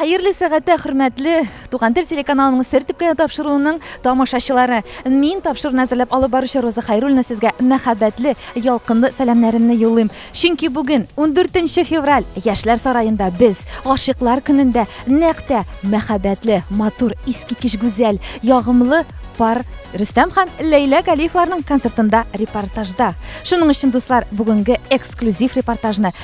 Хәерле сәгатә хөрмәтле Туган тел телеканалының сер төпкәне тапшыруының тамашачылары. Мин тапшыруны әзерләп алып баручы Роза Хайруллина сезгә мәхәббәтле, ялкынлы сәламнәремне юллыйм. Чөнки бүген 14 февраль Яшьләр сараенда без гашыйклар көнендә нәкъ тә мәхәббәтле, матур, искиткеч гүзәл, ягымлы пар Рөстәм һәм Ләйлә Галиевларның концертында репортажда. Шуның өчен, дуслар, бүгенге эксклюзив репортажны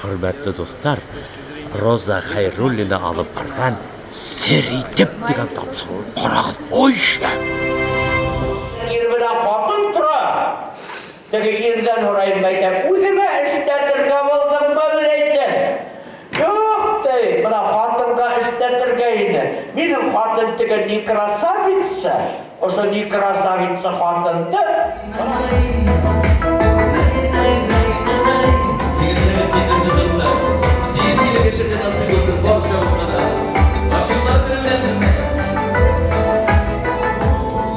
Хөрмәтле дуслар, Роза Хәйруллина алып барган Сер итеп дигән тапшыруын карагыз. Ой, шәп! Теге ирдән ураеп әйтәм, үземә эштә теркәп алдыңмы, дип әйтәм. Юк, ди, менә хатынга эштә теркә инде. Минем хатын теге ни красавица, ошо ни красавица хатын, ди.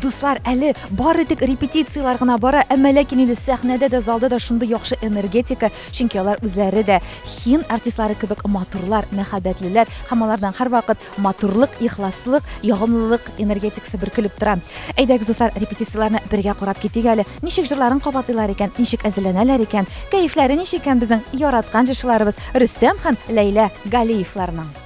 Дуслар, әле бары тик репетицияләр гына бара, әмма ләкин инде сәхнәдә дә, залда да шундый яхшы энергетика, чөнки алар үзләре дә хин артистлары кебек матурлар, мәхәббәтлеләр һәм алардан һәрвакыт матурлык, ихласлык, ягымлылык энергетикасы бөркелеп тора. Әйдәгез, дуслар, репетицияләрне бергә карап китик әле. Ничек җырларын кабатлыйлар икән, ничек әзерләнәләр икән, кәефләре ничек икән безнең яраткан җырчыларыбыз Рөстәм һәм Ләйлә Галиевларның.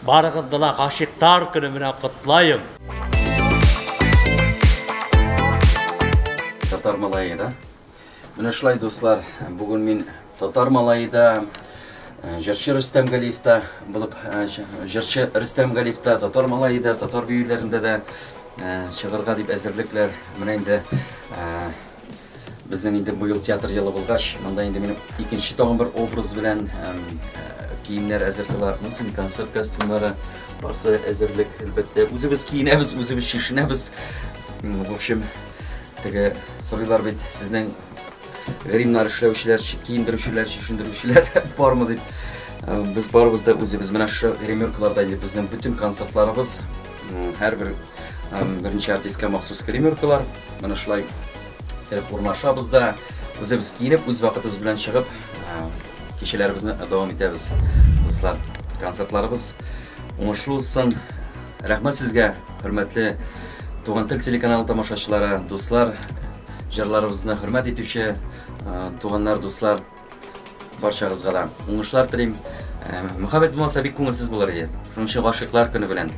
Барыгызны да гашыйктар көне белән котлаем. Татар малае да. Менә шулай дуслар, бүген мин татар малае да, э, җырчы Рөстәм Галиев та булып, э, җырчы Рөстәм Галиев та, татар малае да, татар биюләрендә дә э, чыгарга дип әзерлекләр. Менә инде Безнең инде быел театр елы булгач, монда инде минем икенче тагын бер образ белән киемнәр әзер тыла, мөсен концерт костюмнары, барсы әзерлек, әлбәттә, үзебез киенәбез, үзебез чишенәбез. В общем, теге сорыйлар бит, сезнең гримнар эшләүчеләр, киендерүчеләр, чишендерүчеләр бармы дип. Э, без барыбыз да үзебез. Менә шу гримеркаларда инде безнең бөтен концертларыбыз, һәрбер э, беренче артистка махсус гримеркалар. Менә шулай кереп урнашабыз да, үзебез киенеп, үз вакытыбыз белән чыгып, кичәләребезне дәвам итәбез. Дуслар, концертларыбыз уңышлы узсын. Рәхмәт сезгә, хөрмәтле Туган тел телеканалы тамашачылары, дуслар, җырларыбызны хөрмәт итүче туганнар, дуслар. Барчагызга да уңышлар телим. Э, Мөхәббәт булмаса бик күңелсез булыр иде. Шуның өчен гашыйклар көне белән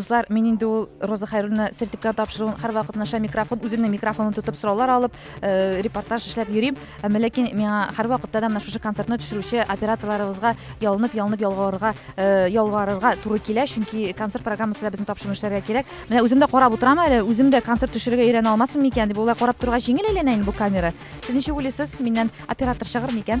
Дуслар, мин инде ул Роза Хайруллина сертификат тапшыруын һәрвакыт наша микрофон, үземнең микрофонын тотып сораулар алып, Э, репортаж эшләп йөрим әмма э, ләкин миңа һәрвакытта да менә шушы концертны төшерүче операторларыбызга ялынып ялынып ялгарырга э, ялварырга туры килә чөнки концерт программасы да безне тапшыруны эшләргә кирәк менә үзем дә карап утырам әле үзем дә концерт төшерергә өйрәнә алмасмын микән дип болай карап торырга җиңел әйләнә инде бу камера сез ничек уйлыйсыз миннән оператор чыгыр микән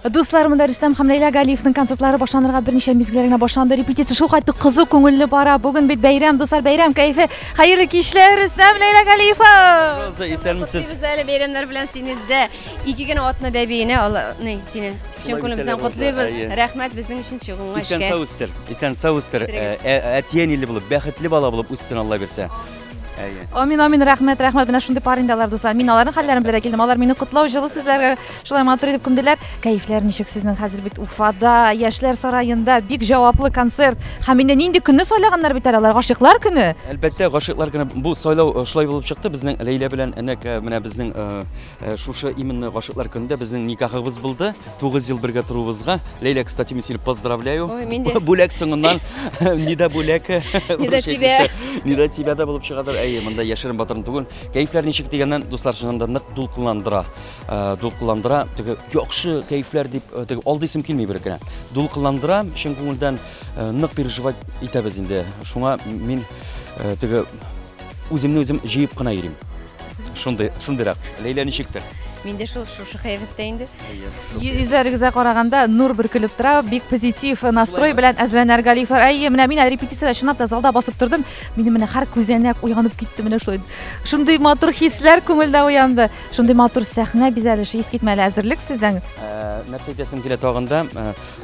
Дуслар, монда Рөстәм һәм Ләйлә Галиевның концертлары башланырга берничә мизгел генә башланды. Репетиция шул кайтты кызу күңелле бара. Бүген бит бәйрәм, дуслар, бәйрәм кайфы. Хәерле кичләр, Рөстәм Ләйлә Галиева. Роза, исәнмесез. Без әле бәйрәмнәр белән сине дә ике генә атны да бейне, алны сине. Чын күңелебездән котлыйбыз. Рәхмәт безнең өчен чыгуыңа эшкә. Исән сау үстер. Исән сау үстер. Әтиәниле булып, бәхетле бала булып үссен Алла бирсә. Әйе. Амин, амин, рәхмәт, рәхмәт. Менә шундый пар инде алар, дуслар. Мин аларның хәлләрен белергә килдем. Алар мине котлау җылы сүзләргә шулай матур итеп күмделәр. Кәефләр ничек сезнең хәзер бит Уфада, Яшьләр сараенда бик җаваплы концерт. Һәм инде нинди көнне сайлаганнар бит әле алар, гашыйклар көне. Әлбәттә, гашыйклар көне бу сайлау э, шулай булып чыкты. Безнең Ләйлә белән нәк э, менә безнең э, Э, шушы именно гашыклар көнендә безнең никахыбыз булды. 9 ел бергә торуыбызга. Ләйлә, кстати, мин сине поздравляю. Ой, мин дә. Бүләк соңыннан Нида бүләк. Нида тебя. Нида тебя да булып чыгадыр. Әйе, монда яшерен батырын түгел. Кәйфләр ничек дигәннән, дуслар, чыннан да нык дулкынландыра. Э, дулкынландыра. Теге яхшы кәйфләр дип, э, теге алды исем килми бер генә. Дулкынландыра, чын күңелдән нык переживать итәбез инде. Шуңа мин теге Үземне үзем җыеп кына йөрим. Шундый, шундыйрак. Ләйлә ничектер? Мин дә шул шушы кыяфәттә инде. Йөзләрегезгә караганда нур бөркелеп тора, бик позитив настрой белән әзерләнәр Галифлар. Әйе, менә мин әле репетициядә чынлап та залда басып тордым. Минем менә һәр күзәнәк уянып китте менә шулай. Шундый матур хисләр күңелдә уянды. Шундый матур сәхнә бизәлеше, искитмәле әзерлек сездән. Нәрсә әйтәсем килә тагын да,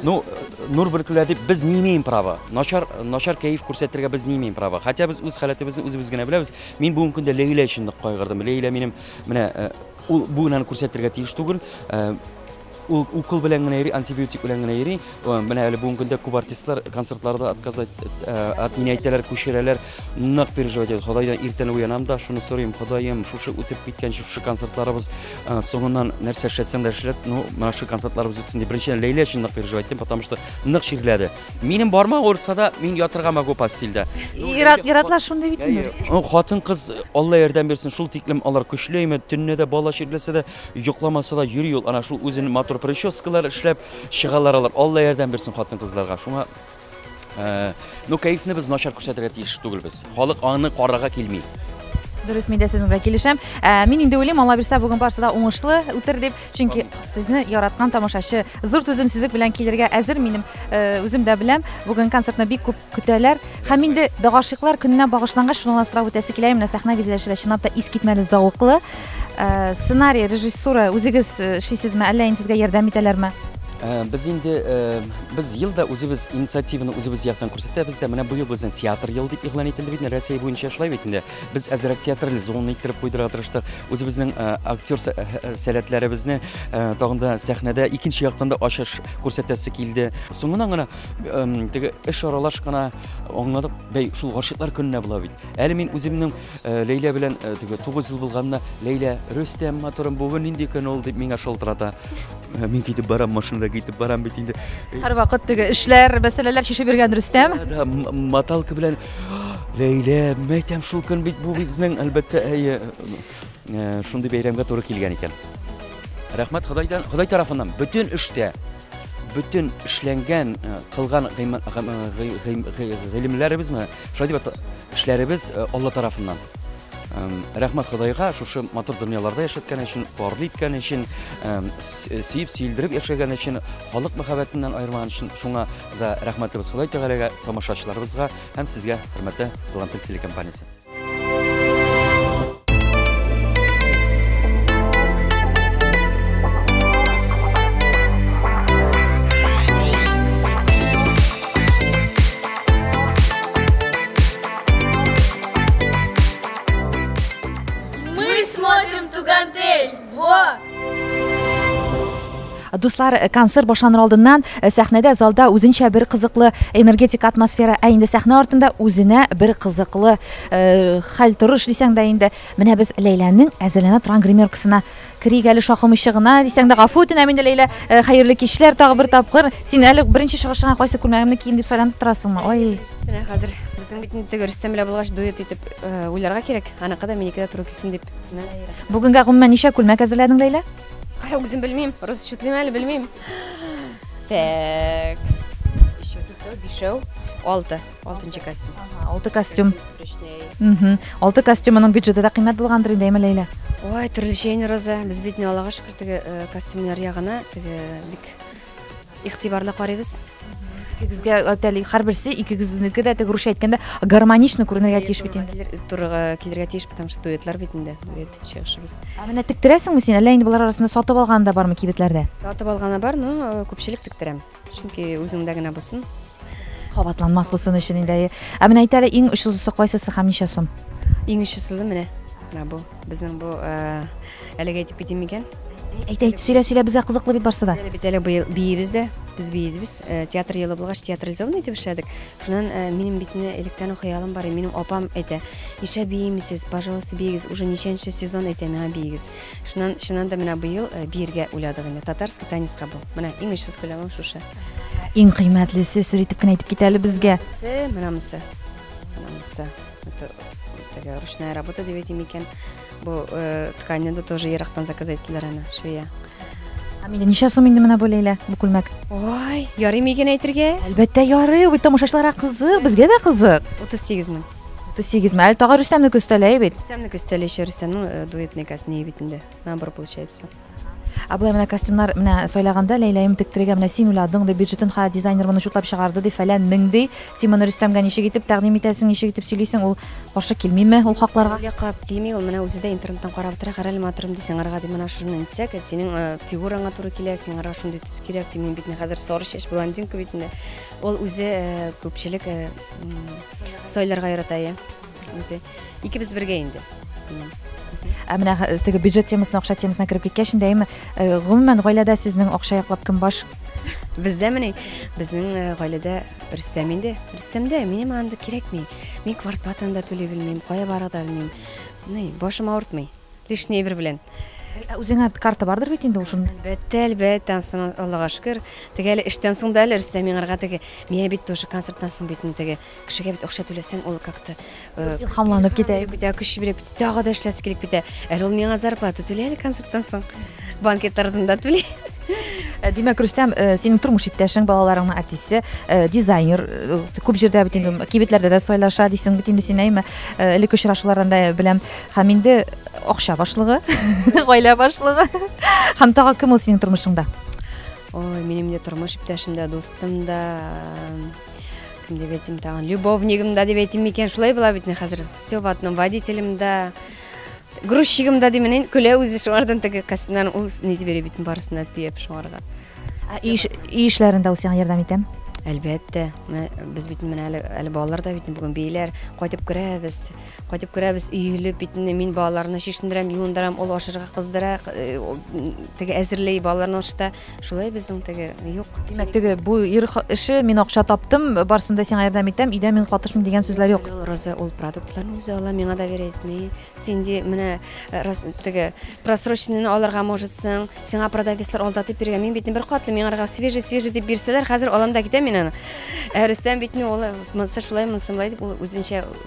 Ну, нур бөркелә дип без не имеем права. Начар, начар кәеф күрсәтергә без не имеем права. Хотя без үз халәтебезне үзебез генә беләбез. Мин бүгенге көндә Ләйлә өчен нык кайгырдым. Ләйлә минем менә э, ул бу генәне күрсәтергә тиеш түгел. Э, ул укол белән генә йөри, антибиотик белән генә йөри. Э, менә әле бүгенге көндә күп артистлар концертларда отказать от меня әйтәләр, күчерәләр. Нык переживать итәм. Ходайдан иртән уянам да, шуны сорыйм, Ходаем, шушы үтеп киткән шушы концертларыбыз э, соңыннан нәрсә эшләтсәң дә эшләт, ну, менә шушы концертларыбыз үтсен дип. Беренчедән Ләйлә өчен нык переживать итәм, потому что нык чирләде. Минем бармак авыртса да, мин ятырга могу постельдә. Ират, иратлар шундый бит инде. Ну, Хатын-кыз, Алла ярдәм бирсен, шул тиклем алар көчле имет, төнне дә бала чирләсә дә, йокламаса да йөри ул, ана шул үзен матур прическалар эшләп чыгалар алар. Алла ярдәм бирсен хатын-кызларга. Шуңа Э, ну кәефне без начар күрсәтергә тиеш түгелбез халык аны карарга килми дөрес мин дә сезнең белән килешәм ә, мин инде уйлыйм алла бирсә бүген барысы да уңышлы үтер дип чөнки сезне яраткан тамашачы зур түземсезлек белән килергә әзер минем э, үзем дә беләм бүген концертны бик күп көтәләр һәм инде гашыйклар көненә багышланган шуны гына сорап үтәсе килә менә сәхнә бизәлеше дә чынлап та искитмәле зәвыклы э, сценарий режиссура үзегез эшлисезме әллә инде сезгә ярдәм итәләрме Без инде без ел да үзебез инициативаны үзебез яктан күрсәтәбез дә. Менә быел безнең театр елы дип игълан ителде бит инде Россия буенча шулай бит инде. Без әзрәк театраль зона иттереп куйдырга тырыштык. Үзебезнең актер сәләтләребезне тагын да сәхнәдә икенче яктан да ачыш күрсәтәсе килде. Соңыннан гына теге эш аралаш кына аңладык, бәй шул гашыйклар көненә була бит. Әле мин үземнең Ләйлә белән теге 9 ел булганына Ләйлә Рөстәм матурым бүген нинди көн ул дип миңа шалтырата. Ә мин китеп барам, машинада китеп барам бит инде. Һәрвакыт теге эшләр, мәсьәләләр чишеп йөргән Рөстәм. Да, маталка белән Ләйлә, мәйтәм шул көн бит бу безнең әлбәттә әйе э, шундый бәйрәмгә туры килгән икән. Рәхмәт Ходайдан, Ходай тарафыннан бөтен эштә бөтен эшләнгән э, кылган гыйлемләребезме, шулай дип эшләребез э, Алла тарафыннан. Рәхмәт Ходайга шушы матур дөньяларда яшәткән өчен, парлы иткән өчен, сөеп, сөелдереп яшәгән өчен, халык мәхәббәтеннән аермаган өчен шуңа да рәхмәтлебез Ходай Тәгаләгә, тамашачыларыбызга һәм сезгә, хөрмәтле Талантлы телекомпаниясе. Мы смотрим Тугантель! Во! Дуслар, э, концерт башланыр алдыннан э, сәхнәдә залда үзенчә бер кызыклы энергетик атмосфера, ә инде сәхнә артында үзенә бер кызыклы э, хәл торыш дисәң дә инде. Менә без Ләйләнең әзерләнә торган гримеркасына Керик әле шакымыйча гына, дисәң дә гафу үтенәм инде, Ләйлә. Хәерле кичләр тагы бер тапкыр. Син әле беренче чыгышыңа кайсы күлмәгемне киим дип сайланып торасыңмы? Ай. Беренчесенә хәзер безнең бит инде теге Рөстәм белән булгач дуэт итеп уйларга кирәк. Аныкы да минеке дә туры килсен дип. Бүгенгә гомумән ничә күлмәк әзерләдең, Ләйлә? Кара, үзем белмим. Расчетлыйм әле, белмим. Так. Өчәү, дүртәү, бишәү, алты. Алтынчы костюм. Ага, алты костюм. Угу. Алты костюмның бюджеты да кыйммәт булгандыр инде, әйме Ләйлә? Ой, төрлечә инде Роза. Без бит не Аллага шөкер теге э, костюмнар ягына теге бик игътибарлы карыйбыз. Икегезгә әйтәли, һәрберсе икегезнеке дә теге русча әйткәндә гармонично күренергә тиеш бит инде. Килер- Турыга килергә тиеш, потому что дуэтлар бит инде, дуэт чыгышыбыз. Ә менә тектерәсеңме син? Әллә инде болар арасында сатып алган да бармы кибетләрдә? Сатып алганы бар, но э, күпчелек тектерәм. Чөнки үзеңдә генә булсын. Кабатланмас булсын өчен инде. Ә менә әйтәле иң очсызысы кайсысы һәм ничә сум? Иң очсызы менә. Менә бу безнең бу э, әлеге әйтеп китим микән? Әйт, әйт, сөйлә, сөйлә, безгә кызыклы бит барсы да. Әле бит әле быел биебез дә, без биебез. Э, Театр елы булгач театрализованный итеп эшләдек. Шуннан э, минем бит менә электән үк хыялым бар, и минем апам әйтә, "Нишләп биемисез? Пожалуйста, биегез". Уже ничәнче сезон әйтә миңа биегез. Шуннан, чыннан да, менә быел биергә уйладык инде. Татарский танецка бу. Менә иң очсыз күләмем шушы. Иң кыйммәтлесе, сер итеп кенә әйтеп кит әле безгә. Се, менә монысы. Менә монысы. Это, это ручная работа дип әйтим икән. Бу э, тканьны да тоже ерактан заказ иттеләр аны, швея. Амилия, ничә сум инде менә бу Ләйлә, бу күлмәк? Ой, ярый мигән әйтергә? Әлбәттә ярый, бит тамашачыларга кызык, безгә дә кызык. 38 мең. Ты сигезме? Әле тагы Рөстәмне көстәләй бит. Рөстәмне көстәләй еще Рөстәмнең э, дуэтный костюмы бит инде. Набор получается. Ә болай менә костюмнар менә сайлаганда Ләйләем тектерегә менә син уйладың да бюджетын ха дизайнер моны чутлап чыгарды ди фәлән мең ди. Син моны Рөстәмгә ничек итеп тәкъдим итәсең, ничек итеп сөйлисең? Ул каршы килмиме ул хакларга? Ул якка килми, ул менә үзе дә интернеттан карап тора, карале матурым ди, сиңарга ди, менә шуны итсәк, э, синең э, фигураңа туры килә, сиңарга шундый төс кирәк ди, мин бит хәзер сары чәч блондинка бит инде. Ул үзе күпчелек сайларга ярата, иә. Үзе. Икебез бергә инде. Ә менә теге бюджет темасына, акча темасына кереп киткәч инде, әйме, гомумән гаиләдә сезнең акча яклап кем баш? Бездә менә безнең гаиләдә Рөстәм инде. Рөстәмдә минем анда кирәкми. Мин квартплатаны да түли белмим, кая барырга да белмим. Ни, башым авыртмый. Лишний әйбер белән. Ә үзеңә карта бардыр бит инде ул шун. Әлбәттә, әлбәттә, анысына Аллага шөкер. Теге әле эштән соң да әле Рөстәм миңарга теге, миңа бит тоже концерттан соң бит теге кешегә бит акча түләсәң, ул как-то э, илһамланып китә. Битә көч биреп бит, тагы да эшләсе килеп битә. Әле ул миңа зарплата түли әле концерттан соң. Банкет артында түли. Э, димәк, Рөстәм, э, синең тормыш иптәшең, балаларыңның артисты, э, дизайнер, күп җирдә бит инде кибетләрдә дә сайлаша дисең бит инде син, әйме? Элек очрашулардан да беләм. Һәм инде акча башлыгы, гаилә башлыгы. Һәм тагы кем ул синең тормышыңда? Ой, минем дә тормыш иптәшем дә, дустым да, кем дип әйтим тагын, любовнигым да дип әйтим микән, шулай була бит хәзер. Все в одном, водителем да, грузчигым да димен, көлә үзе шуңардан теге костюмнан ул ни дип йөри бит барысына төяп шуңарга. Үй эшләрендә ул сиңа ярдәм итәме? Әлбәттә, без бит менә әле балалар да бит бүген бейләр, кайтып керәбез. Кайтып керәбез, өелеп, битне мин балаларны чишендерәм, юындырам, ул ашырга кыздыра, теге әзерли, балаларны ашыта. Шулай безнең теге юк. Димәк, теге бу ир эше, мин акча таптым, барсын да сиңа ярдәм итәм, өйдә мин катышмыйм дигән сүзләр юк. Роза ул продуктларны үзе ала, миңа да бер әйтми. Син ди, менә теге просроченныйны алырга можетсың, сиңа продавецлар алда дип биргән, мин битне бер катлы, миңа рга свежий, свежий дип бирсәләр, хәзер алам да китәм мин аны. Ә Рөстәм битне ул монсы шулай, монсы шулай дип, ул үзенчә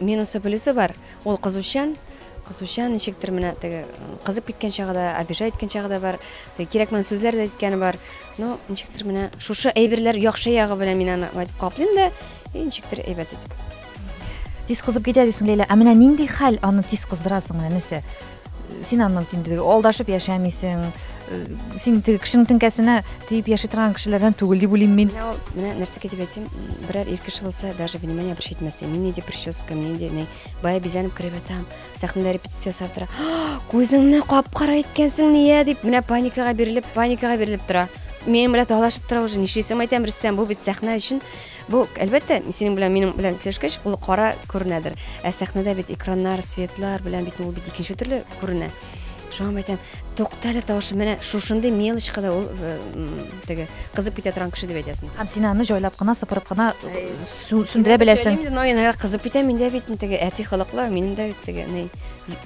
Минусы плюсы бар. Ул кызучан. Кызучан ничектер менә теге кызып киткән чагы да, обижа иткән чагы да бар. Теге кирәкмәгән сүзләр дә әйткәне бар. Ну, ничектер менә шушы әйберләр яхшы ягы белән мин аны әйтеп каплыйм да, и ничектер әйбәт итеп. Тиз кызып китә дисең, Ләйлә. Ә менә нинди хәл аны тиз кыздырасың, менә нәрсә? син аннан инде алдашып яшәмисең э, син теге кешенең теңкәсенә тиеп яши торган кешеләрдән түгел дип уйлыйм мин ул менә нәрсәгә дип әйтим берәр ир кеше булса даже внимание обращать итмәс мин нинди прическа мин нинди ни бая бизәнеп кереп ятам сәхнәдә репетиция ясап тора күзеңне кап кара иткәнсең нигә дип менә паникага бирелеп паникага бирелеп тора мен белән талашып тора уже нишлисең әйтәм рөстәм бу бит сәхнә өчен Бу, әлбәттә, синең белән минем белән сөйләшкәч, ул кара күренәдер. Ә сәхнәдә бит экраннар, светлар белән бит ул бит икенче төрле күренә. Шуңа мәйтәм, туктале тавышы менә шушындый мелочка да ул э, теге кызып китә торган кеше дип әйтәсең. Һәм син аны җайлап кына, сыпырып кына э, сүндерә беләсең. Мин аны кызып китә, миндә бит теге әти холыклы, минем дә бит теге, ни,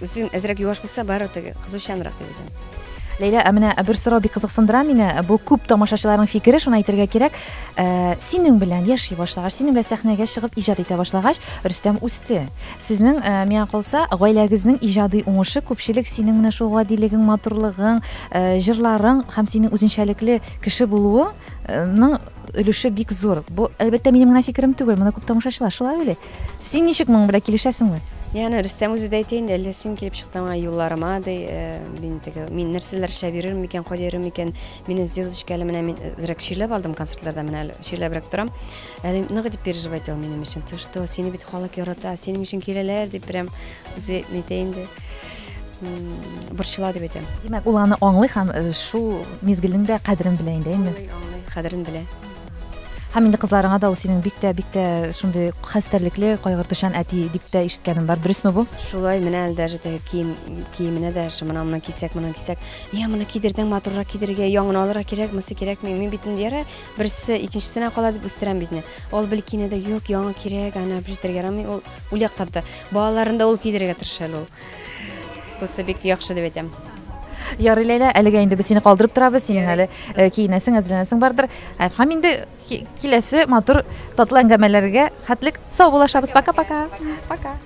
үзем әзрәк юаш булса, бары теге кызучанрак дип әйтәм. Ләйлә, ә менә бер сорау бик кызыксындыра мине. Бу күп тамашачыларның фикере, шуны әйтергә кирәк. Э, синең белән яши башлагач синең белән сәхнәгә чыгып иҗат итә башлагач рөстәм үсте сезнең э, миңа калса гаиләгезнең иҗади уңышы күпчелек синең менә шул гадилегең матурлыгың э, җырларың һәм синең үзенчәлекле кеше булуыңның өлеше бик зур бу әлбәттә минем генә фикерем түгел моны күп тамашачылар шулай уйлый син ничек моның белән килешәсеңме яны рөстәм үзе дә әйтә инде әллә син килеп чыктың аңа юлларыма ди мин теге мин нәрсәләр эшләп йөрермен микән кайда йөрермен микән Минем звездочка әле менә мин зрәк чирләп алдым концертларда менә әле чирләбрәк торам. Әле нык дип переживать ул минем өчен. Ты что, сине бит халык ярата, синең өчен киләләр дип прям үзе нитә инде. Борчыла дип әйтәм. Димәк, ул аны аңлый һәм э, шул мизгелнең дә кадерен белә инде, әйме? Аңлый, кадерен белә. Һәм инде кызларыңа да ул синең бик тә бик тә шундый хәстәрлекле, кайгыртучан әти дип тә ишеткәнем бар. Дөресме бу? Шулай менә әле даже теге кием киеменә дә шымына монан кисәк, монан кисәк. Йә, моны кидердең, матуррак кидерергә, яңын алырга кирәк, монысы кирәкми. Мин бит инде ярар, берсе икенчесенә кала дип үстерәм бит инде. Ул бел киенә дә, юк, яңа кирәк, аны бертергә ярамый. Ул ул яклап та. Балаларын да ул кидерергә тырыша әле ул. Бусы бик яхшы дип әйтәм. Ярый, Ләйлә, әлегә инде без сине калдырып торабыз. Синең әле э, киенәсең, әзерләнәсең бардыр. Һәм инде Киләсе матур татлы әңгәмәләргә хәтлек сау булашабыз. Пока-пока. Пока.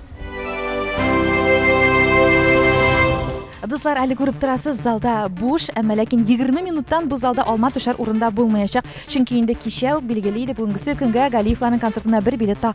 Дуслар, әле күреп торасыз, залда буш, әмма ләкин 20 минуттан бу залда алма төшәр урында булмаячак. Чөнки инде кичә үк билгеле иде, бүгенгесе көнгә Галиевларның концертына бер билет та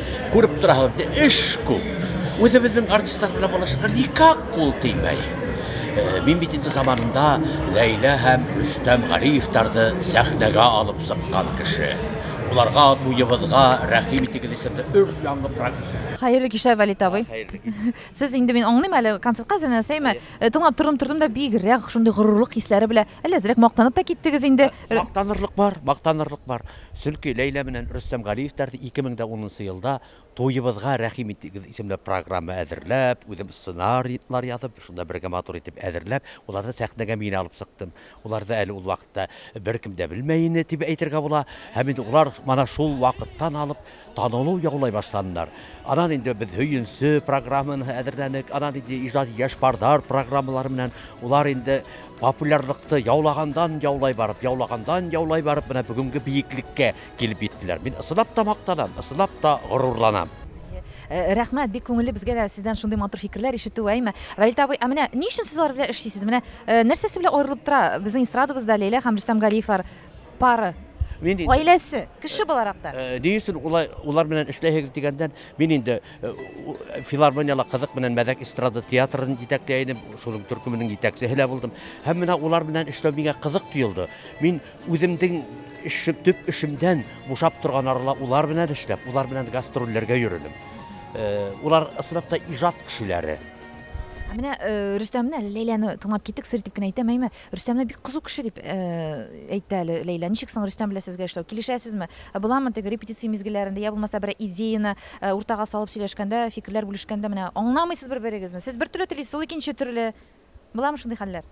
Күреп торасыз, ди, эш күп. Үзебезнең артистларда булачакка никак кул тимәй. Э, мин бит инде заманында Ләйлә һәм Рөстәм Галиевтарды сәхнәгә алып сыккан кеше. Уларга буебызга рәхим итегез исемле өр яңгы программа. Хәерле кичләр, Валит абый. Сез инде мин аңлыйм әле, концертка әзерләнәсез, әйме? Э, тыңлап тордым, тордым да бигрәк шундый горурлык хисләре белә Әллә әзрәк мактанып та киттегез инде? Ә, мактанырлык бар, мактанырлык бар. Сөнки Ләйлә менән Рөстәм Галиевтәр 2010 елда Туебызга рәхим итегез исемле программа әзерләп, үзем сценарийлар язып, шунда бергә матур итеп әзерләп, уларны сәхнәгә мин алып чыктым. Уларны әле ул вакытта беркем дә белмәй ине, дип әйтергә була. Һәм инде улар мана шул вакыттан алып Танылу яулай башладылар. Аннан инде без Һөенсе программаны әзерләдек. Аннан инде Иҗади яшь парлар программалары белән улар инде популярлыкты яулагандан яулай барып, яулагандан яулай барып, менә бүгенге биеклеккә килеп җиттеләр. Мин ысынлап та мактанам, ысынлап та горурланам. Рәхмәт, бик күңелле безгә дә сездән шундый матур фикерләр ишетү, әйме? Вәлит абый, ә менә ни өчен сез алар белән эшлисез? Менә нәрсәсе белән аерылып тора безнең эстрадабызда Ләйлә һәм Рөстәм Галиевлар? Пары. Мин инде- Гаиләсе, кеше буларак та. Э, Ни өчен улай- улар белән эшләйһегез дигәндән, мин инде э, у- филармонияле кызык белән мәзәк эстрада театрын җитәкләй идем, шуның төркеменең җитәкчесе лә булдым. Һәм менә улар белән эшләү миңа кызык тоелды. Мин үземнең эше, төп эшемдән бушап торган арала улар белән эшләп, улар белән гастрольләргә йөридем. Э, Улар ысынлап та иҗат кешеләре. Ә менә э, Рөстәмне, әле Ләйләне тыңлап киттек, сер итеп кенә әйтәм, әйме, Рөстәмне бик кызу кеше дип әйтте әле Ләйлә. Ничек соң Рөстәм белән сезгә эшләү? Килешәсезме? Ә буламы теге репетиция мизгелләрендә, я булмаса берәр идеяны уртага салып сөйләшкәндә, фикерләр бүлешкәндә менә аңламыйсыз бер-берегезне, сез бер төрле телисез, ул икенче төрле. Буламы шундый хәлләр?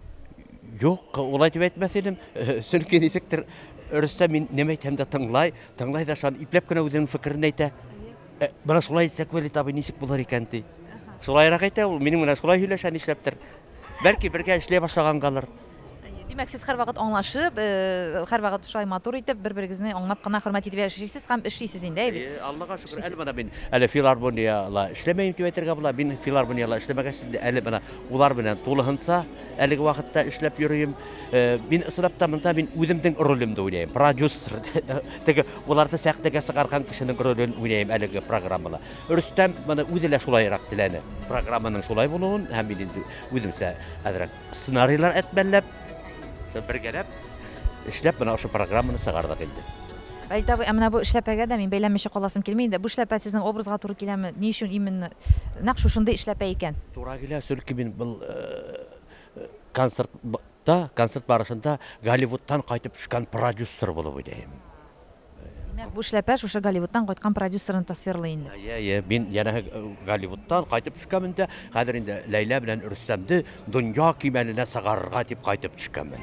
Юк, улай дип әйтмәс идем. Чөнки ничектер Рөстәм мин нимә әйтсәм дә тыңлай, тыңлай да ышанып, ипләп кенә үзенең фикерен әйтә. Менә шулай әйтсәк, Вәлит абый ничек булыр икән ди. Шулайрак әйтә ул, минем белән шулай һөйләшә нишләптер. Бәлки бергә эшли башлагангадыр. Димәк, сез һәрвакыт аңлашып, һәрвакыт шулай матур итеп, бер-берегезне аңлап кына, хөрмәт итеп яшисез һәм эшлисез инде, әйбәт. Әйе, Аллага шөкер, әле менә мин әле филармониядә эшләмим дип әйтергә була. Мин филармониядә эшләмәгәч, әле менә улар белән тулыһынча Әлеге вакытта эшләп йөрим. Э, мин ысырап та монда мин үземнең ролемне уйнайм. Продюсер. Теге уларны сәхнәгә сыгарган кешенең ролен уйнайм әлеге программада. Рөстәм моны үзе лә шулайрак теләне. Программаның шулай булуын һәм мин инде үземчә әзрәк сценарийлар әтмәлләп, бергәләп эшләп менә ошо программаны сыгардык инде. Галит абый, ә менә бу эшләпәгә дә мин бәйләнмичә каласым килми инде. Бу эшләпә сезнең образга туры киләме? Ни өчен именно нәкъ шушындый эшләпә икән? Туры килә, чөнки мин бу концертта, концерт барышында Голливудтан кайтып төшкән продюсер булып уйныйм. Димәк, бу эшләпә шушы Голливудтан кайткан продюсерны тасвирлый инде. Әйе, әйе, мин янәһе Голливудтан кайтып төшкәнмен дә, хәзер инде Ләйлә белән Рөстәмне Дөнья кимәленә сыгарырга дип кайтып төшкәнмен.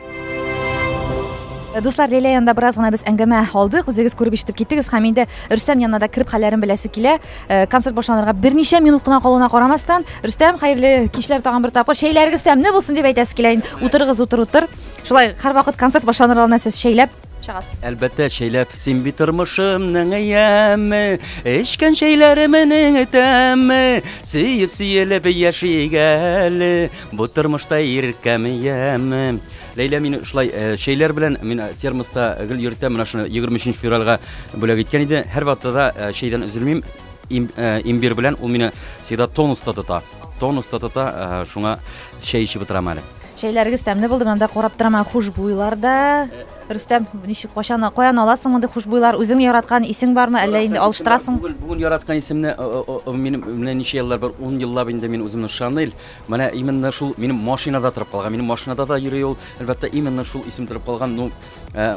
Дуслар, Ләйлә янында бераз гына без әңгәмә алдык. Үзегез күреп-ишетеп киттегез һәм инде Рөстәм янына да кереп хәлләрен беләсе килә. Э, концерт башланырга берничә минут кына калуына карамастан, Рөстәм, хәерле кичләр тагын бер тапкыр. Чәйләрегез тәмле булсын дип әйтәсе килә. Утырыгыз, утыр, утыр. Шулай һәрвакыт концерт башланыр алдыннан сез чәйләп Чыгас. Әлбәттә, чәйләп син бит тормышымның яме, эчкән чәйләремнең тәме, сөеп сөелеп яшик әле, бу тормышта иркәм яме. Ләйлә мине шулай э, чәйләр белән мин э, термоста гел йөртәм, менә шуны 23 февральгә бүләк иткән иде. Һәр вакытта да э, чәйдән өзелмим. Им, э, имбир белән ул мине всегда тонуста тота. Тонус та тота, э, шуңа чәй эчеп утырам әле. Чәйләрегез тәмле булды, монда карап торам, ә хушбуйлар да. Рөстәм, ничек кайчан каян аласың мондый хушбуйлар? Үзең яраткан исең бармы, әллә инде алыштырасың? Бүген бүген яраткан исемне э, э, э, минем менә ничә еллар бар, 10 еллап инде мин үземне Шанель. Менә именно шул минем машинада торып калган. Минем машинада да йөри ул. Әлбәттә, именно шул исем торып калган. Ну, э,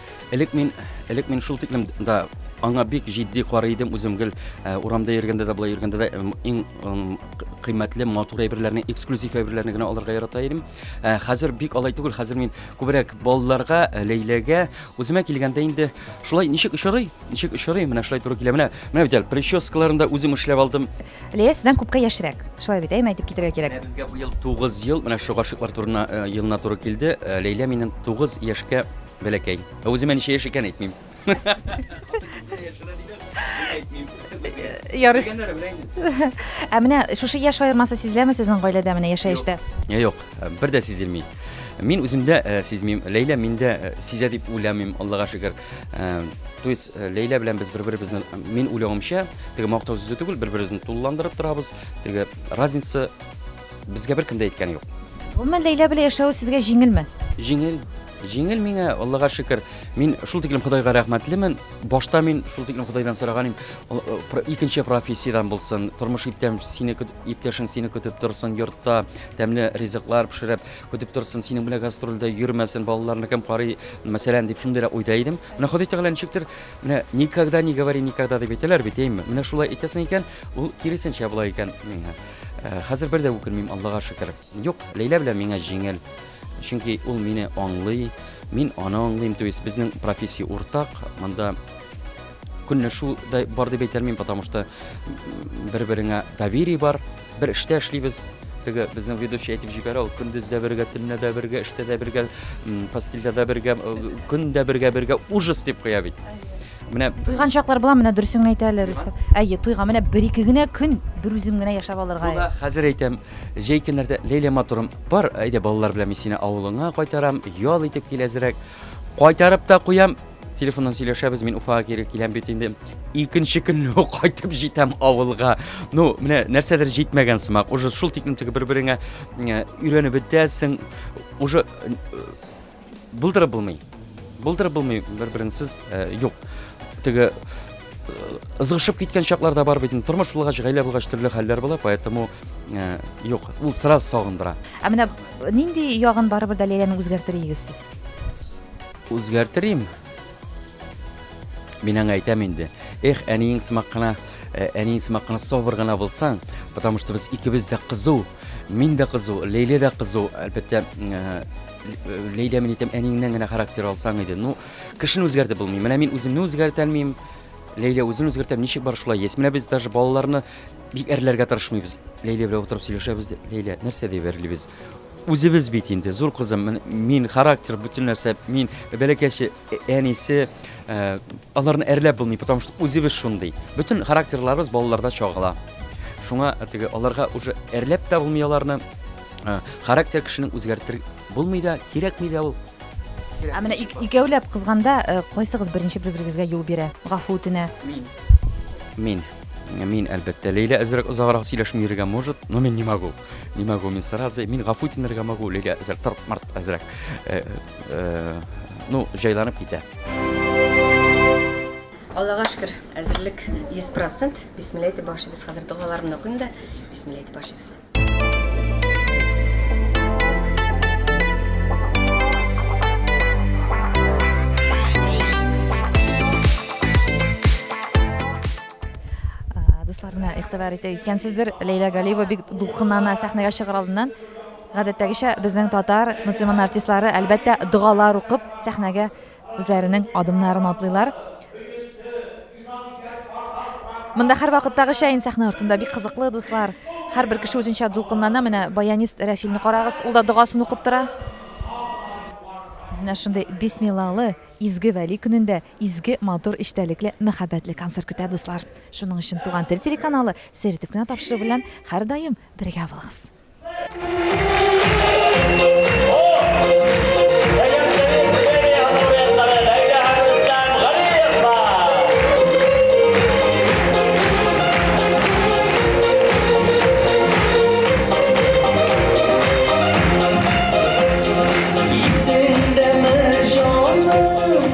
Элек мин, элек мин шул тиклем да аңа бик җитди карый идем үзем гел э, урамда йөргәндә дә былай йөргәндә дә иң кыйммәтле матур әйберләрне эксклюзив әйберләрне генә алырга ярата идем э, хәзер бик алай түгел хәзер мин күбрәк балаларга э, ләйләгә үземә килгәндә инде шулай ничек очрый ничек очрый менә шулай туры килә менә менә бит әле прическаларын да үзем эшләп алдым Лея сездән күпкә яшьрәк. Шулай бит, әйме, әйтеп китергә кирәк. Менә безгә бу ел 9 ел, менә шул гашыйклар турына э, елына туры килде. Э, Ләйлә минем 9 яшькә бәләкәй. Ә Үземә ничә яшь икән әйтмим. Ярыс. Ә менә шушы яшь аермасы сизеләме сезнең гаиләдә менә яшәештә? Я юк, э, бер дә сизелми. Мин үземдә э, сизмим, Ләйлә миндә э, сизә дип уйламыйм, Аллага шөкер. Э, то есть э, ләйлә белән без бер беребезне э, мин уйлавымча теге мактау сүзе түгел бер беребезне тулыландырып торабыз теге разница безгә беркем дә әйткәне юк гомумән ләйлә белән яшәү сезгә җиңелме җиңел җиңел миңа аллага шөкер мин шул тиклем ходайга рәхмәтлемен башта мин шул тиклем ходайдан сораган идем икенче профессиядән булсын тормыш иптәм сине иптәшең сине көтеп торсын йортта тәмле ризыклар пешереп Көтеп торсын, синең белән гастрольдә йөрмәсен, балаларны кем карый, мәсәлән, дип шундыйрак уйда идем. Менә Ходай Тәгалә ничектер, менә никогда не говори никогда дип әйтәләр бит, әйме? Менә шулай әйтәсең икән, ул киресенчә була икән. Э, хәзер бер дә үкенмим, Аллага шөкер. Юк, Ләйлә белән миңа җиңел. Чөнки ул мине аңлый, мин аны аңлыйм, то есть безнең профессия уртак. Монда көнләшү дә бар дип әйтәлмим, потому что бер-береңә доверие бар. Бер эштә эшлибез. Теге безнең ведущий әйтеп җибәрә, ул көндез дә бергә, төнлә дә бергә, эштә дә бергә, постельдә дә бергә, көн дә бергә, бергә ужас дип куя бит. Менә туйган чаклар була, менә дөресен әйтә әле Рөстәм. Әйе, туйга менә бер ике генә көн бер үзем генә яшәп алырга. Була, хәзер әйтәм, җәй көннәрдә Ләйлә матурым, бар, әйдә балалар белән мин сине авылыңа кайтарам, ял итеп кил әзрәк. Кайтарып та куям, Телефоннан сөйләшәбез, мин Уфага кире киләм бит инде. Икенче көнне үк кайтып җитәм авылга. Ну, менә нәрсәдер җитмәгән сымак. Уже шул тикмин теге бер-береңә э, өйрәнеп бетәсең. Уже э, булдырып булмый. Булдырып булмый бер-береңсез э, юк. Теге ызгышып киткән чаклар да бар бит инде тормыш булгач гаилә булгач төрле хәлләр була поэтому э, юк ул сразу сагындыра ә менә нинди ягын барыбер дә ләйләнең үзгәртер идегез сез Үзгәртер им. Мин аңа әйтәм инде. Эх, әниең сымак кына, э, әниең сымак кына сабыр гына булсаң, потому что без икебез дә кызу. Мин дә кызу, Лейлә дә кызу. Әлбәттә, э, Лейлә мин әйтәм, әниеңнән генә характер алсаң иде. Ну, кешене үзгәртеп булмый. Менә мин үземне үзгәртә алмыйм. Лейлә үзен үзгәртә, ничек бар шулай есть. Менә без даже балаларны бик әрләргә тырышмыйбыз. Лейлә белән утырып сөйләшәбез. Лейлә, нәрсә дип әрлибез? Үзебез бит инде, зур кызым, мин характер, бөтен нәрсә, мин бәләкәче әнисе, аларны әрләп булмый, потому что үзебез шундый. Бөтен характерларыбыз балаларда чагыла. Шуңа теге аларга уже әрләп тә булмый аларны. Характер кешенең үзгәртер булмый да, кирәкми дә ул. Ә менә икәүләп кызганда э, кайсыгыз беренче бер-берегезгә юл бирә, гафу үтенә? Мин. Мин. Мин, әлбәттә. Ләйлә әзрәк озаграк сөйләшми йөрергә может, но мин не могу. Не могу, мисс Саразы. Мин гафу тинергә могу, Лилия әзер, тырт март әзерәк. Э, э, ну, җайланып китә. Аллага шөкер, әзерлек 100%. Бисмилла әйтеп башлыйбыз. Хәзер догаларымны укыйм да, бисмилла әйтеп башлыйбыз. Дуслар, менә игътибар итә икәнсездер, Ләйлә Галиева бик дулкынлана сәхнәгә чыгар алдыннан. Гадәттәгечә безнең татар мөселман артистлары әлбәттә догалар укып сәхнәгә үзләренең адымнарын атлыйлар. Монда һәрвакыттагыча инде сәхнә артында бик кызыклы дуслар. Һәрбер кеше үзенчә дулкынлана. Менә баянист Рәфилне карагыз, ул да догасын укып тора. Менә шундый бисмиллалы изге вәли көнендә Изге, матур, эчтәлекле, мәхәббәтле концерт көтә, дуслар. Шуның өчен Туган тел телеканалы Сер итеп кенә тапшыру белән һәрдаим бергә булыгыз.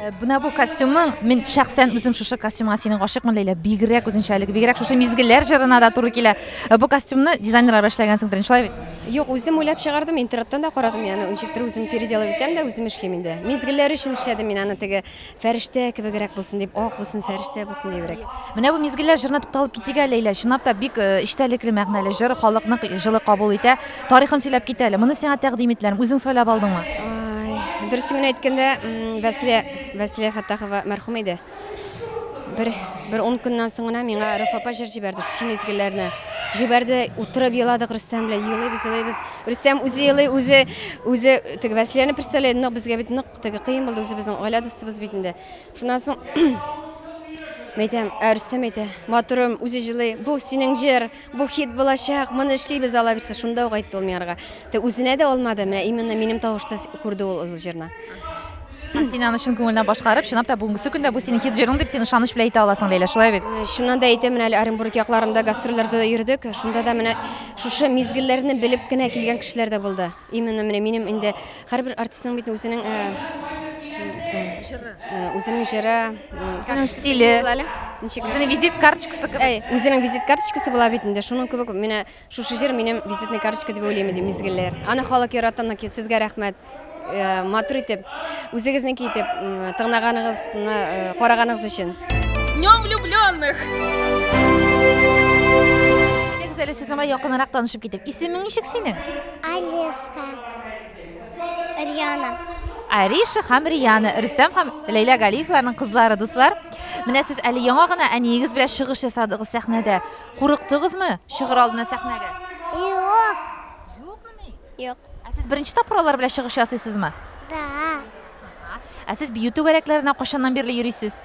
Э, менә бу костюмың мин шәхсән үзем шушы костюмга синең гашыйкмын ләйлә бигрәк үзенчәлек бигрәк шушы мизгелләр җырына да туры килә э, бу костюмны дизайнерлар эшләгәнсеңдер шулай бит юк үзем уйлап чыгардым интернеттан да карадым яны ничектер үзем переделывать итәм дә үзем эшлим инде мизгелләр өчен эшләдем мин аны теге фәрештә кебегрәк булсын дип ак булсын фәрештә булсын дибрәк менә бу мизгелләр җырына тукталып китик әле ләйлә чынлап та бик э, эчтәлекле мәгънәле җыр халыкны җылы кабул итә Тарихын сөйләп кит әле. Моны сиңа тәкъдим иттеләрме? Үзең сайлап алдыңмы? Дөресен генә әйткәндә, Вәсилә Вәсилә Фәттахова мәрхүм иде. Бер бер 10 көннән соң гына миңа Рәүф апа җыр җибәрде, шушы мизгелләрне. Җибәрде, утырып еладык Рөстәм белән, елыйбыз, елыйбыз. Рөстәм үзе елый, үзе үзе теге Вәсиләне представляет, нык безгә бит нык теге кыен булды, үзе безнең гаилә дустыбыз бит инде. Шуннан соң Мәйтәм, ә Рөстәм әйтә, матурым, үзе җылый, бу синең җыр, Бу хит булачак, моны эшлибез, алаберсе, шунда ук әйтте ул миңа рга. Тә үзенә дә алмады, менә именно минем тавышта күрде ул ул җырны. Һәм син аны чын күңеленнән башкарып, чынлап та бүгенгесе көндә бу синең хит җырың дип син ышаныч белән әйтә аласың, Ләйлә, шулай бит? Чыннан да әйтәм, менә әле Оренбург якларында гастрольләрдә дә йөрдек, шунда да менә шушы мизгелләрне белеп кенә килгән кешеләр дә булды. Именно менә минем инде Һәрбер артистның бит үзенең җыры. Үзенең җыры, үзенең стиле. Үзенең визит карточкасы кебек. Әй, үзенең визит карточкасы була бит инде. Шуның кебек менә шушы җыр минем визитный карточка дип уйлыйм инде мизгелләр. Аны халык ярата, сезгә рәхмәт. Э, матур итеп, үзегезнеке итеп тыңлаганыгызны, э, караганыгыз өчен. С днем влюбленных! Әле сезнең белән якынрак танышып китик. Исемең ничек синең? Алиса, Риана. Ариша һәм Риана, Рөстәм һәм Ләйлә Галиевларның кызлары, дуслар. Менә сез әле яңа гына әниегез белән чыгыш ясадыгыз сәхнәдә. Курыктыгызмы чыгыр алдына сәхнәгә? Юк. Юкмыни? Юк. Ә сез беренче тапкыр алар белән чыгыш ясыйсызмы? Да. Ә сез бию түгәрәкләренә кайчаннан бирле йөрисез?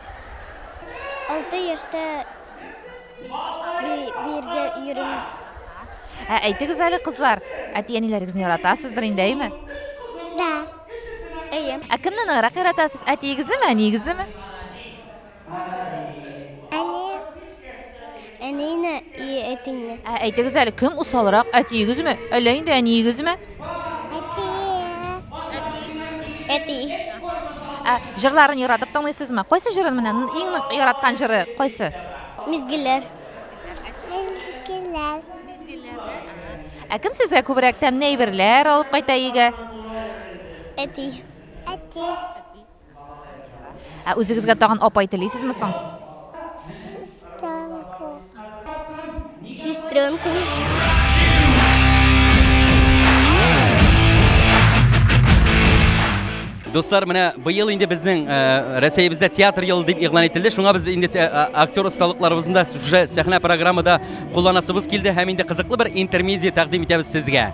Алты яшьтә Биргә йөрим. Ә әйтегез әле, кызлар, әти-әниләрегезне яратасыздыр инде, әйме? Да. Әйе. Ә кемне ныграк яратасыз, әтиегезне ме, әниегезне ме? Әни. Әнине и әтине. Ә әйтегез әле, кем усалрак, әтиегезме, әллә инде әниегезме? Әти. Ә, җырларын яратып тыңлыйсызмы? Кайсы җырын менә иң нык яраткан җыры кайсы? Мизгелләр. Мизгелләр. Ә кем сезгә күбрәк тәмле әйберләр алып кайта өйгә? Әти. Әти. Ә үзегезгә тагын апай телисезме соң? Сестренку. Сестренку. Дуслар, менә быел инде безнең э, Рәсәебездә театр елы дип игълан ителде. Шуңа без инде э, актер осталыкларыбызны да уже сәхнә программада кулланасыбыз килде һәм инде кызыклы бер интермедия тәкъдим итәбез сезгә.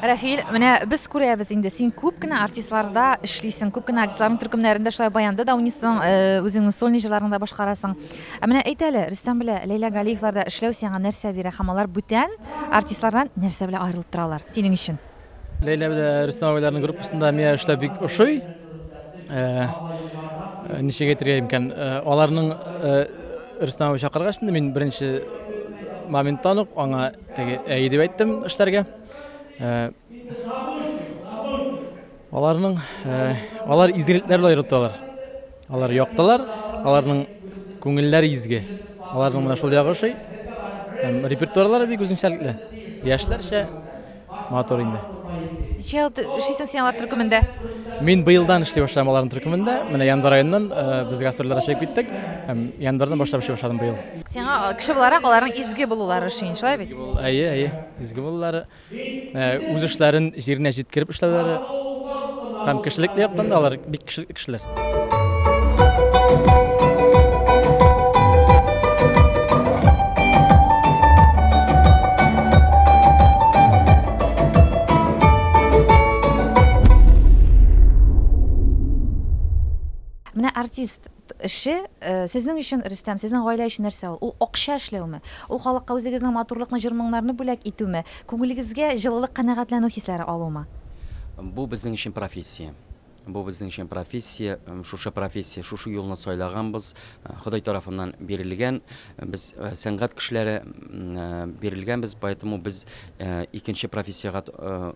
Рәфил, менә без күрәбез инде, син күп кенә артистларда эшлисең, күп кенә артистларның төркемнәрендә, шулай баянда да уйныйсың, үзеңнең сольный җырларыңны да башкарасың. Ә менә әйт әле, Рөстәм белән Ләйлә Галиевларда эшләү сиңа нәрсә бирә һәм алар бүтән артистлардан нәрсә белән аерылып торалар синең өчен? Ләйлә белән Рөстәм абыйларның группасында миңа эшләү бик ошый. Ничек әйтергә имкән, аларның Рөстәм абый чакыргач, мин беренче моменттан ук аңа әйе дип әйттем эшләргә. Аларның алар изгелекләр белән йөртәләр. Алар яктылар, аларның күңелләре изге. Аларның менә шул ягы шуй. Һәм репертуарлары бик үзенчәлекле. Яшьләрчә матур инде. Ничә ел эшлисең син алар төркемендә? Мин быелдан эшли башлыйм аларның төркемендә. Менә январь аеннан без гастрольләргә чыгып киттек һәм январьдан башлап эшли башладым быел. Сиңа кеше буларак аларның изге булулары ошый, шулай бит? Әйе, әйе. Изге булулары, үз эшләрен җиренә җиткереп эшләүләре һәм кешелек яктан да алар бик кешелекле кешеләр. Менә артист Эше, сезнең өчен, Рөстәм, сезнең гаилә өчен нәрсә ул? Ул акча эшләүме? Ул халыкка үзегезнең матурлыкны, җыр-моңнарны бүләк итүме? Күңелегезгә җылылык, канәгатьләнү хисләре алумы? Бу безнең өчен профессия. Бу безнең өчен профессия. Шушы профессия, шушы юлны сайлаганбыз. Ходай тарафыннан бирелгән. Без сәнгать кешеләре бирелгәнбез, поэтому без икенче профессиягә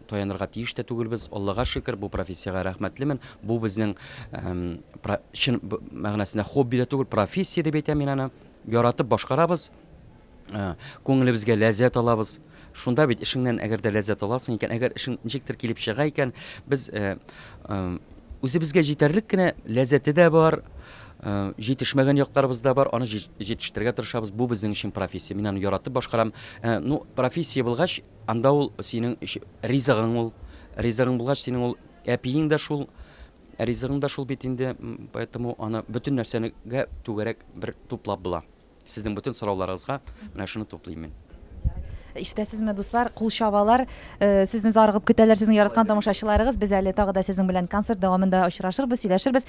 таянырга тиеш тә түгелбез. Аллага шөкер, бу профессиягә рәхмәтлемен. Бу безнең про чын мәгънәсендә хобби дә түгел, профессия дип әйтәм мин аны. Яратып башкарабыз, күңелебезгә ләззәт алабыз. Шунда бит эшеңнән әгәр дә ләззәт аласың икән, әгәр эшең ничектер килеп чыга икән, без үзебезгә җитәрлек кенә ләззәте дә бар, җитешмәгән якларыбыз да бар, аны җитештерергә тырышабыз. Бу безнең өчен профессия. Мин аны яратып башкарам. Ну, профессия булгач, Анда ул синең өч ризыгың ул. Ризыгың булгач, синең ул әпиең дә шул, ризыгың да шул бит инде, поэтому аны бөтен нәрсәнегә түгәрәк бер туплап була. Сезнең бөтен сорауларыгызга менә шуны туплыйм мин. Ишетәсезме, дуслар, кул чабалар, сезне зарыгып көтәләр сезнең яраткан тамашачыларыгыз. Без әле тагы да сезнең белән концерт дәвамында очрашырбыз, сөйләшербез.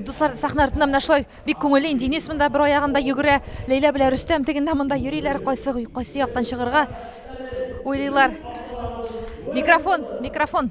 Дуслар, сахна артында менә шулай бик күңелле инде. Инес монда бер аягында йөгерә, Ләйлә белән Рөстәм тегендә монда йөриләр, кайсы кайсы яктан чыгарга уйлыйлар. Микрофон, микрофон.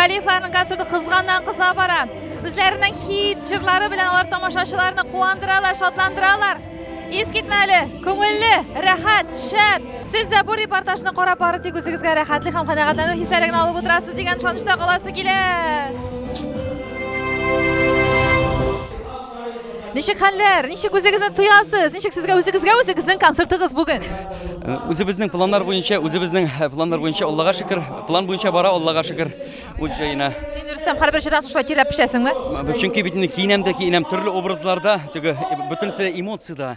Галиевларның концерты кызганнан кыза бара. Үзләренең хит җырлары белән алар тамашачыларны куандыралар, шатландыралар. Искитмәле, күңелле, рәхәт, шәп. Сез дә бу репортажны карап бары тик үзегезгә рәхәтлек һәм канәгатьләнү хисләрен алып утырасыз дигән шанышта каласы килә. Ничек хәлләр? Ничек үзегезне тоясыз? Ничек сезгә үзегезгә үзегезнең концертыгыз бүген? Э, үзебезнең планнар буенча, үзебезнең э, планнар буенча Аллага шөкер, план буенча бара Аллага шөкер. Үз җаена. Син Рөстәм һәрбер җырда шулай тирәп пешәсеңме? Чөнки бит инде киенәм дә киенәм төрле образларда, теге э, бөтенесе эмоцияда.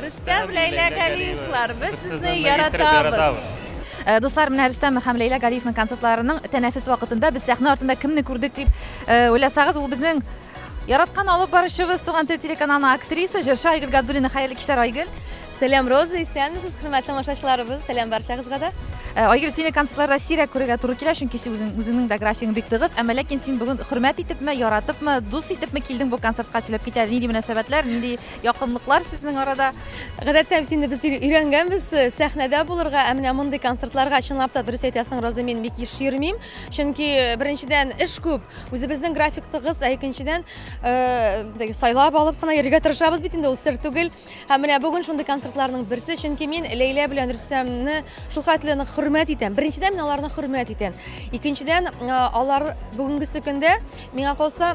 Рөстәм, Ләйлә Галиевлар, без сезне яратабыз. Э, дуслар менә рөстәм һәм ләйлә галиевның концертларының тәнәфес вакытында без сәхнә артында кемне күрдек дип э, уйласагыз ул безнең яраткан алып баручыбыз туган тел телеканалының актриса җырчы айгөл габдуллина хәерле кичләр айгөл сәлам роза исәнмесез хөрмәтле тамашачыларыбыз сәлам барчагызга да э, айгөл сине концертларда сирәк күрергә туры килә чөнки үзең үзеңнең дә графигың бик тыгыз әмма ләкин син бүген хөрмәт итепме яратыпмы дус итепме килдең бу концертка сөйләп китә нинди мөнәсәбәтләр нинди Якынлыклар сезнең арада. Гадәттә бит инде без өйрәнгәнбез э, сәхнәдә булырга, ә менә мондый концертларга чынлап та дөрес әйтәсең, Роза, мин бик еш йөрмим. Чөнки э, беренчедән эш күп, үзебезнең график тыгыз, ә икенчедән э, сайлап алып кына йөрергә тырышабыз бит инде ул сер түгел. Һәм менә бүген шундый концертларның берсе, чөнки мин Ләйлә белән Рөстәмне шул хәтле нык хөрмәт итәм. Беренчедән мин аларны хөрмәт итәм. Икенчедән, алар бүгенгесе көндә миңа калса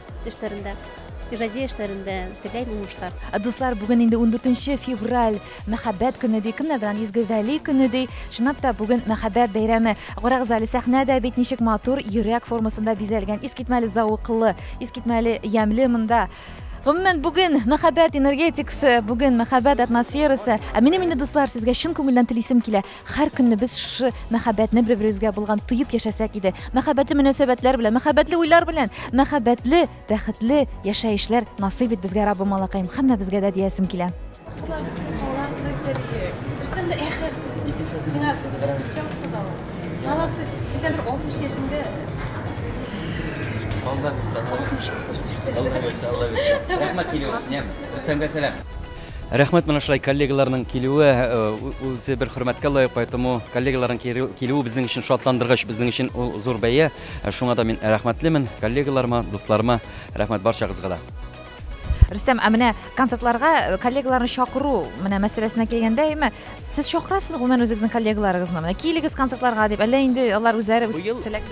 Эшләрендә, иҗади эшләрендә теләйм уңышлар. Дуслар, бүген инде 14 февраль, мәхәббәт көне ди, кемнәр белән изге вәли көне ди. Чынлап та бүген мәхәббәт бәйрәме. Карагыз әле, сәхнә дә бит ничек матур, йөрәк формасында бизәлгән, искитмәле зәвыклы, искитмәле ямьле монда. Гомумән, бүген мәхәббәт энергетикасы, бүген мәхәббәт атмосферасы. Ә минем инде, дуслар, сезгә чын күңелдән телисем килә. Хәр көнне без шушы мәхәббәтне бер-беребезгә булган тоеп яшәсәк иде. Мәхәббәтле мөнәсәбәтләр белән, мәхәббәтле уйлар белән, мәхәббәтле, бәхетле яшәешләр насыйп ит безгә, Раббым малакаем, хаммәбезгә дә диясем килә. Рәхмәт менә шулай коллегаларның килүе үзе бер хөрмәткә лаек, поэтому коллегаларның килүе безнең өчен шатландыргыч, безнең өчен ул зур бәя. Шуңа да мин рәхмәтлемен коллегаларыма, дусларыма. Рәхмәт барчагызга да. Рөстәм, ә менә концертларга э, коллегаларны чакыру менә мәсьәләсенә килгәндә, әйме, сез чакырасыз гомумән үзегезнең коллегаларыгызны? Менә килегез концертларга дип, әллә инде алар үзләре үз теләк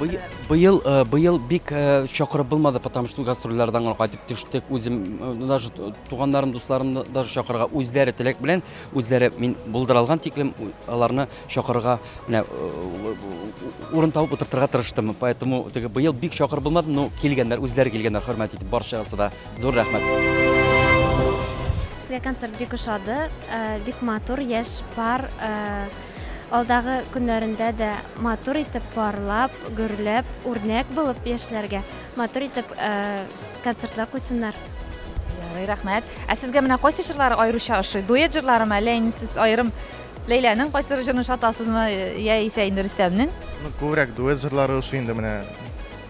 Быел э, быел бик э, чакырып булмады, потому что гастрольләрдән генә кайтып төштек. Үзем даже Туганнарын, дусларын да чакырырга үзләре теләк белән, үзләре мин булдыралган тиклем аларны чакырырга менә урын табып утыртырга тырыштым. Поэтому теге быел бик чакыр булмады, но килгәннәр, үзләре килгәннәр, хөрмәт итеп барчасы да. Зур рәхмәт. Безгә концерт бик ошады, бик матур, яшь пар алдагы көннәрендә дә матур итеп парлап, гөрләп, үрнәк булып яшьләргә Матур итеп концертлар куйсыннар. Ярый, рәхмәт. Ә сезгә менә кайсы җырлары аеруча ошый? Дуэт җырларымы, әллә инде сез аерым Ләйләнең кайсы җырын шатасызмы, я исә инде Рөстәмнең? Ну, күбрәк дуэт җырлары ошый инде менә.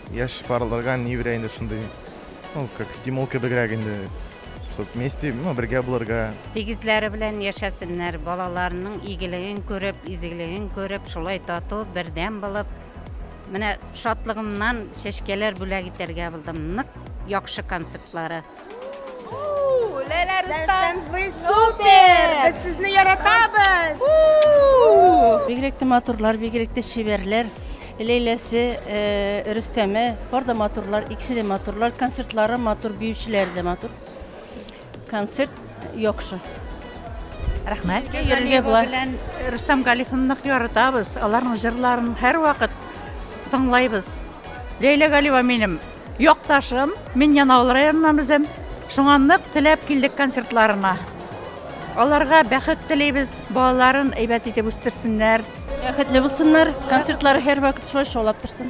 Яшь парларга ни бирә инде шундый, ну, как стимул кебегрәк инде, чтобы вместе, ну, бергә булырга. Тигезләре белән яшәсеннәр, балаларының игелеген күреп, изгелеген күреп, шулай тату, бердәм булып, Менә шатлыгымнан чәчкәләр бүләк итәргә булдым. Нык яхшы концертлары. Ләйлә Рустам, супер! Без сезне яратабыз! Бигрәк тә матурлар, бигрәк тә чибәрләр. Ләйләсе, э, Рөстәме, бар да матурлар, икесе дә матурлар, концертлары матур, биючеләре дә матур. Концерт яхшы. Рәхмәт. Йөрергә була. Рустам Галифовны нык яратабыз. Аларның җырларын һәрвакыт тыңлайбыз. Ләйлә Галиева минем якташым. Мин Янаул районыннан үзем. Шуңа нык теләп килдек концертларына. Аларга бәхет телибез, балаларын әйбәт итеп үстерсеннәр. Бәхетле булсыннар, концертлары һәрвакыт шулай шаулап торсын.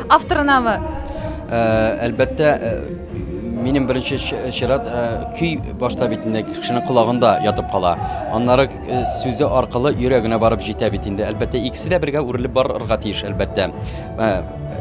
Авторынамы? Әлбәттә, минем беренче чират көй башта бит инде кешенең колагында ятып кала. Аннары сүзе аркылы йөрәгенә барып җитә бит инде. Әлбәттә, икесе дә бергә үрелеп барырга тиеш, әлбәттә.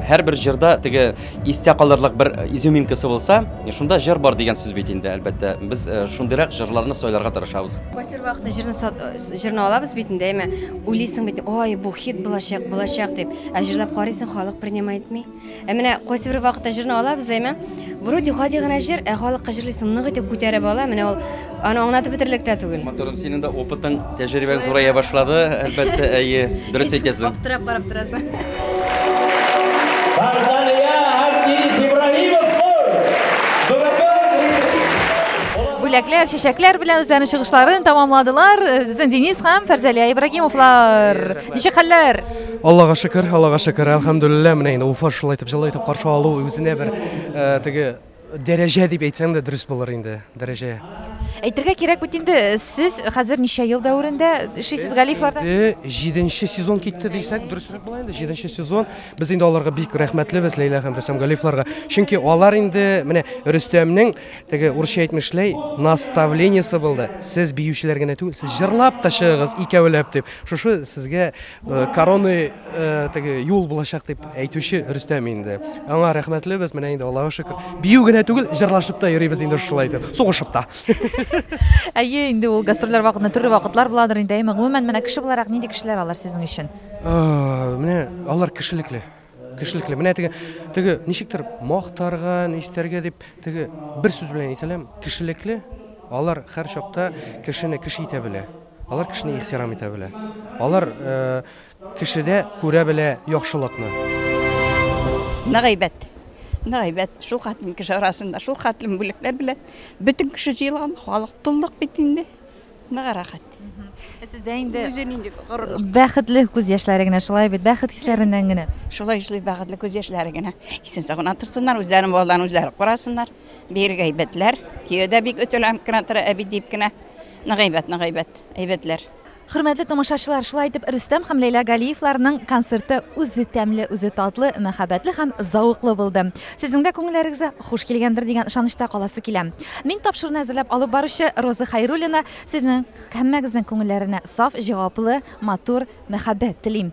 Һәр бер җырда теге истә калырлык бер изюминкасы булса, шунда җыр бар дигән сүз бит инде, әлбәттә. Без шундыйрак җырларны сайларга тырышабыз. Кайсыр вакытта җырны җырны алабыз бит инде, әйме, уйлыйсың бит, ой, бу хит булачак, булачак дип. Ә җырлап карыйсың, халык принимай итми. Ә менә кайсы бер вакытта җырны алабыз, әйме? Вроде гади генә җыр, ә халыкка җырлыйсың, нык итеп күтәреп ала. Менә ул аны аңлатып бетерлек тә түгел. Моторым, синең дә опытың, тәҗрибәң зурая башлады, әлбәттә, әйе, дөрес әйтәсең. Аптырап карап торасың. Бардалия һәм Денис Ибраһимов Нур! Бүләкләр, чәчәкләр белән үзләренең чыгышларын тәмамладылар. Безнең Денис һәм Фәрзәлия Ибраһимовлар. Ничек хәлләр? Аллага шөкер, Аллага шөкер, әлхәмдүлилләһ, менә инде Уфа шулай итеп җылы итеп каршы алу үзенә бер э, теге дәрәҗә дип әйтсәң дә дөрес булыр инде, дәрәҗә. Әйтергә кирәк бит инде, сез хәзер ничә ел дәверендә эшлисез Галифларда? Инде җиденче сезон китте дисәк, дөресрәк була инде, җиденче сезон. Без инде аларга бик рәхмәтлебез, Ләйлә һәм Рөстәм Галифларга. Чөнки алар инде, менә Рөстәмнең теге урысча әйтмешләй, наставлениесе булды. Сез биючеләр генә түгел, сез җырлап та чыгыгыз икәүләп дип. Шушы сезгә короны теге юл булачак дип әйтүче Рөстәм инде. Аңа рәхмәтлебез. Менә инде Аллага шөкер. Бию генә түгел, җырлашып та йөрибез инде шулай итеп. Сугышып та. Әйе, инде ул гастрольләр вакытында төрле вакытлар буладыр инде. Әйе, гомумән, менә кеше буларак нинди кешеләр алар сезнең өчен? Менә алар кешелекле. Кешелекле. Менә теге, теге ничектер мактарга, ничтәргә дип, теге бер сүз белән әйтәләм, кешелекле. Алар һәр чакта кешене кеше итә белә. Алар кешене ихтирам итә белә. Алар э, кешедә күрә белә яхшылыкны. Нык әйбәт. Нык әйбәт. Шул хәтлем кеше арасында, шул хәтлем бүлекләр белән бөтен кеше җыелган, халык туллык бит инде. Ныгы рәхәт. Ә сездә инде үзе нинди горурлык? Бәхетле күз яшьләре генә, шулай бит, бәхет хисләреннән генә. Шулай эшли бәхетле күз яшьләре генә. Исән сау гына торсыннар, үзләрен балаларын үзләре карасыннар. Бигрәк әйбәтләр. Кияве дә бик өтеләнеп кенә тора, әби дип кенә. Нык әйбәт, нык әйбәт, әйбәтләр. Хөрмәтле тамашачылар, шулай итеп Рөстәм һәм Ләйлә Галиевларның концерты үзе тәмле, үзе татлы, мәхәббәтле һәм зәвыклы булды. Сезнең дә күңелләрегездә Хуш килгәндер дигән ышанычта каласы килә. Мин тапшыруны әзерләп алып баручы Роза Хәйруллина, сезнең һәммәгезнең күңелләренә саф, җаваплы, матур мәхәббәт телим.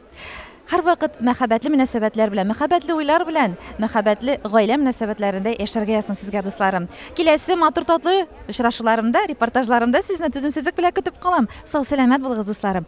Һәрвакыт мәхәббәтле мөнәсәбәтләр белән, мәхәббәтле уйлар белән, мәхәббәтле гаилә мөнәсәбәтләрендә яшәргә язсын сезгә, дусларым. Киләсе матур татлы очрашуларымда, репортажларымда сезне түземсезлек белән көтеп калам. Сау-сәламәт булыгыз, дусларым.